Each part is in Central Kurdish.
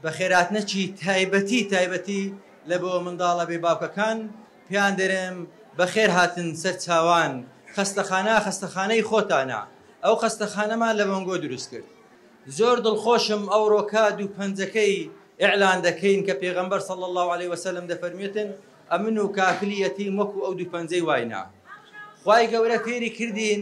بەخێرهاتنەکی تایبەتی تایبەتی لە بۆ منداڵە بێ باوکەکان پێیان دەرێم بەخێر هاتن سەر چاوان خەستەخانە خەستەخانەی خۆتانە ئەو خەستەخانەمان لە بۆنگۆ دروست کرد زۆر دڵخۆشم ئەو ڕۆکا دوو پەنجەکەی ئیعلان دەکەین کە پێغەمبەر صلی الله علیه وسلم دەفەرمێتن ئەمن و کافلی یەتیم وەکو ئەو دوو پەنجەی واینە خوای گەورە فێری کردین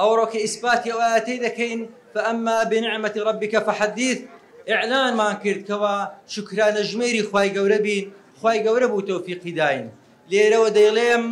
ئەوڕۆ کە ئیسپاتی ئەو ئایەتەی دەکەین، فاما بنعمە ربک فحدیث، ئیعلانمان کرد کەوا شوکرانەژمێری خوای گەورە بین، خوای گەورە بوو تەوفیقی داین. لێرەوە دەیڵێم،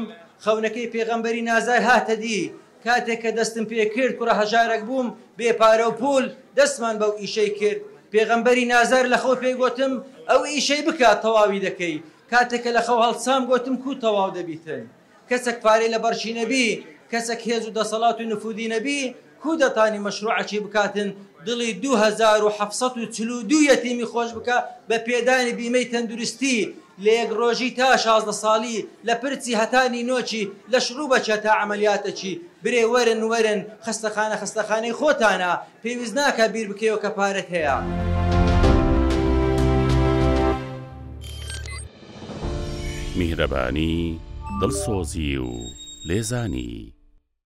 خەونەکەی پێغەمبەری نازای هاتە دی، کاتێک کە دەستم پێ کرد، کوڕە هەژارەک بووم، بێ پارە و پوول، دەستمان بەو ئیشەی کرد. پێغەمبەری نازار لە خەو پێی گۆتم، ئەو ئیشەی بکە، تەواوی دەکەی. کاتێک کە لە خەو هەڵسام، گۆتم، کوو تەواو دەبیتن؟ کەسەک پارەی لە بەڕکی نەبی، کەسەک هێز و دەسەڵات و نفووزی نەبی، کوو دەتانی مەشرووعەکی بکاتن دڵی دوو هەزار و حەفت سەد و چل و دوو یەتیمی خۆش بکا بە پێدانی بیمەی تەندروستی لە یەک ڕۆژی تا شازدە ساڵی، لە پرچی هەتا نینۆکی، لە شڕووبەکی هەتا عەمەلیاتەکی؟ برێ وەرن وەرن، خەستەخانە خەستەخانەی خۆتانە، پێویست ناکا بیر بکەیەوە کە پارەت هەیە. میهرەبانی، دڵسۆزی و لێزانی.